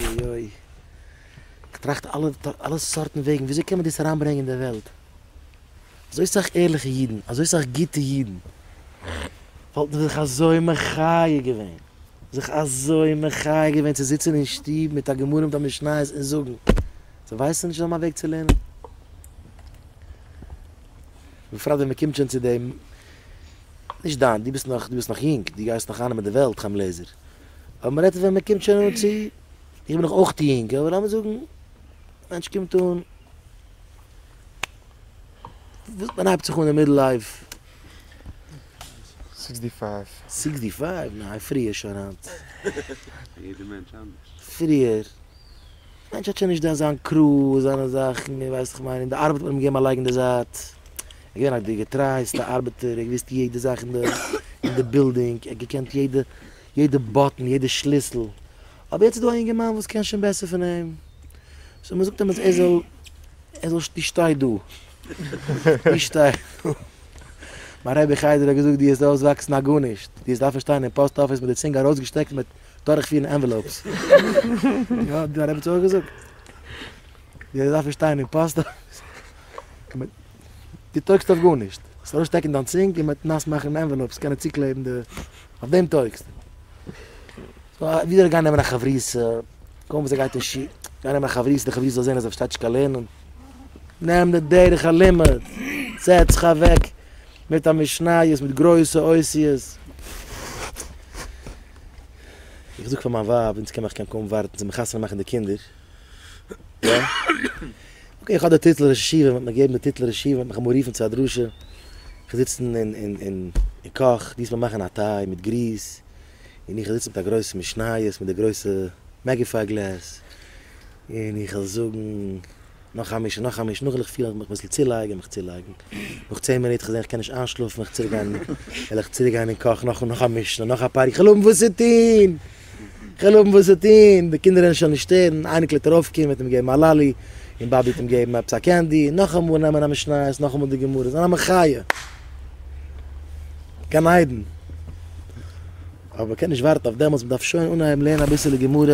אוי אוי. כ'טראכט אלע אלע סארטן וועגן וויאזוי קען מען דאס אריינברענגען אין די וועלט. אזוי סאך ערליכע אידן, אזוי סאך גוטע אידן, וואלטן זיך אזוי מחיה געווען, זיך אזוי מחיה געווען צו זיצן אין שטוב מיט א גמרא מיט א משניות און זאגן, זיי ווייסן נישט זיי האבן א וועג צו לערנען. בפרט ווען מ'קומט שוין צו דעם, נישט דיין, דו ביסט נאך דו ביסט נאך יונג, דו גייסט נאך איינעמען די וועלט, חיים לעזער. אבער מען רעדט ווען מען קומט שוין אן צו, איך בין דאך אויך יונג, אבער לאמיר זאגן א מענטש קומט אן, וואס מען הייבט זיך אן אין מידל לייף? סיקסטי פייוו. סיקסטי פייוו? ניין, פריער שוין היינט. יעדער מענטש אנדערש. פריער. מענטש האט שוין נישט דען זיין קרו און זיינע זאכן און ווייסט איך מיין אין די ארבעט האט מען אים געגעבן א לייג אין די זייט ער געווען א די געטרייעסטע ארבעטער ער האט געוויסט יעדע זאך אין די אין די בילדינג ער האט געקענט יעדע יעדע באטן יעדע שליסל אבער יעצט איז דא א יונגערמאן וואס קען שוין בעסער פון אים סאו מען זאגט אים אז ער זאל ער זאל די שטיי דא די שטיי דא מיין רבי חדר האט געזאגט די העסט אויסוואקסן א גארנישט די העסט דארפן שטיין אין פאסט אפיס מיט די צינג ארויסגעשטעקט מיט דורכפירן ענוועלאופס. יא, האט די רעבעצע אויך געזאגט. די דארף נישט שטיין אין פאסט אפיס. די טויגסט אויף גארנישט. זאלסט ארויסשטעקן דיין צונג און מיט נאס מאכן ענוועלאופס קענען צוקלעבן די. אויף דעם טויגסט. ווי זאל איך גיין נעמען א חברותא? קוים וואס ער גייט אין שול. גיין נעמען א חברותא, די חברותא זאל זען אז ער פארשטייט נישט קיין לערנען. נעם די דרך הלימוד. זעץ זיך אוועק מיט א משניות מיט גרויסע אותיות. איך זאג פאר מיין ווייב אונז קען איך קען קוים ווארטן צו מחתונה מאכן די קינדער, יא, אקעי איך האב די טיטל ראש ישיבה מען וועט מיר געבן די טיטל ראש ישיבה מען וועט מיך אמאל רופן צו א דרשה, איך זיץ אין אין אין אין אין קאך די עסט מיר מאכן א טיי מיט גריס, און איך זיץ מיט א גרויסע משניות מיט די גרויסע מעגיפייגלעס. און איך וועל זאגן נאך א משהו, נאך א משהו, נאכדעם וועל איך פילן איך מיך אביסל צולייגן, מיך צולייגן, נאך צען מינוט איך זעה איך קען נישט איינשלאפן וועל איך צוריק גיין, וועל איך צוריק גיין אין קאך נאך נאך א משנה, נאך א פאר, איך וועל האבן וואס צו טוהן! איך וועל האבן וואס צו טוהן! די קינדער וועלן שוין נישט שטערן, אייניקל וועט ארויפקומען וועט אים געבן א לאלי, און באבי וועט אים געבן עפעס א קענדי, נאכאמאל נעמען א משניות, נאכאמאל די גמרות, זיין א מחיה! גן עדן! אבער מ'קען נישט ווארטן אויף דעמאלטס, מ'דארף שוין אנהייבן לערנען אביסעלע גמרא.